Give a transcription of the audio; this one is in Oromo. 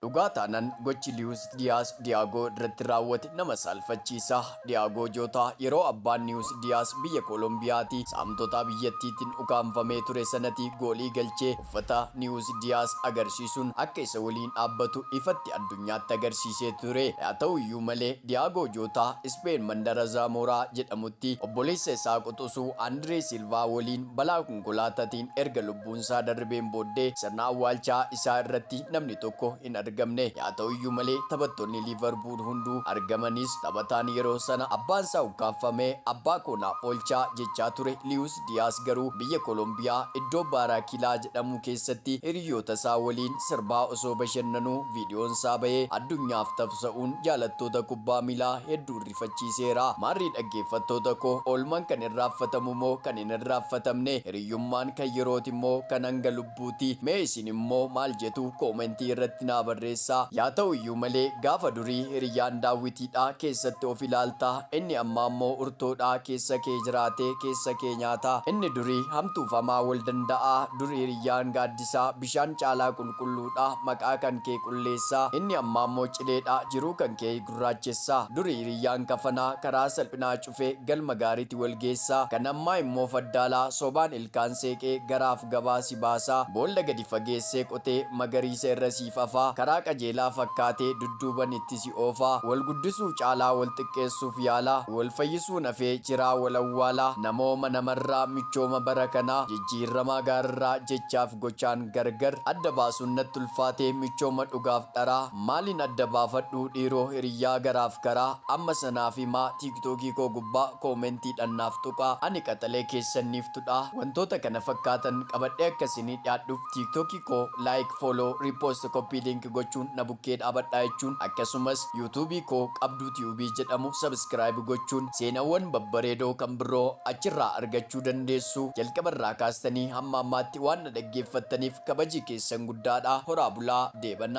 Dhugaa taanan gochi Liwus Diyaas Diyaagoo irratti raawwate nama saalfachiisa. Diyaagoo Jootaa yeroo abbaan Liwus Diyaas biyya Kolombiyaatii saamtotaa biyyattiitin ukaamfamee ture sanati goolii galchee uffata Liwus Diyaas agarsiisuun akka isa waliin dhaabbatu ifatti addunyaatti agarsiisee ture. Yaa ta'uyyuu malee Diyaagoo Jootaa Ispeen mandara Zamora jedhamutti obboleessa isaa quxusuu Andiree Silvaa waliin balaa Konkolaatatiin erga lubbuunsaa darrbeen booddee sirna awwaalchaa isaa irratti namni tokko hin argamne. Yaa ta'uyyuu malee taphattoonni Liivarpuul hunduu argamanis taphataan yeroo sana abbaansaa ukkaamfame abbaa koo naaf oolchaa jechaa ture Liyuus Diyaas garuu biyya Kolombiyaa iddoo Baaraakilaa jedhamuu keessatti hiriyyootasaa waliin sirbaa osoo bashannanuu viidiyoonsaa bahee addunyaaf tafsa'uun jaalattoota kubbaa miilaa hedduu ariifachiiseera. Maarree dhaggeeffattoota koo, oolmaan kan irraaffatamu moo kan hin irraaffatamne? Hiriyyummaan kan yerooti moo kan hanga lubbuuti? Mee isin immoo maal jetu? Koomentii irratti naa barreessaa. Yaa ta'u iyyuu malee, gaafa durii hiriyyaan daawwitiidha, keessatti of ilaalta, inni ammaa immoo urtoodha, keessa kee jiraatee keessa kee nyaata. Inni durii hamtuuf hamaa wal danda'a. Dur hiriyyaan gaaddisa, bishaan caalaa qulqulluudha, maqaa kan kee qulleessa. Inni ammaa immoo cileedha, jiruu kan kee. gurraachessaa. Duri hiriyyaan kafanaa, karaa salphinaa cufee galma gaariiti wal geessaa. Kan ammaa immoo faddaalaa, sobaan ilkaan seeqee garaaf gabaa si baasaa. Boolla gadi fageessee qotee, magariisa irra siif afaa. Karaa qajeelaa fakkaatee, dudduuban itti si oofaa. Wal guddisuu caalaa, wal xiqqeessuuf yaalaa. Wal fayyisuun hafee, jiraa wal awwaalaa. Namooma namarraa, michooma bara kanaa. Jijjiirramaa gaararraa, jechaaf gochaan gargar. Adda baasuun natti ulfaatee, michooma dhugaaf dharaa. Maalin adda baafadhuu dhiiroo hiriyyaa garaaf garaa amma sanaafi maa tiiktookii koo gubbaa koomentiidhan naaf tuqaa ani qaxalee keessan niiftudhaa wantoota kana fakkaatan qabadhee akka isinii dhiyaadhuf tiiktookii koo like follow repost copy link gochuun na bukkee dhaabadhaa jechuun akkasumas yuutuubii koo qabduu tube jedhamu subscribe gochuun seenawwan babbareedoo kan birroo achirraa argachuu dandeessu jalqabarraa kaastanii hamma ammaatti waan na dhaggeeffattaniif kabaji keessan guddaadha horaa bulaa deebanaa.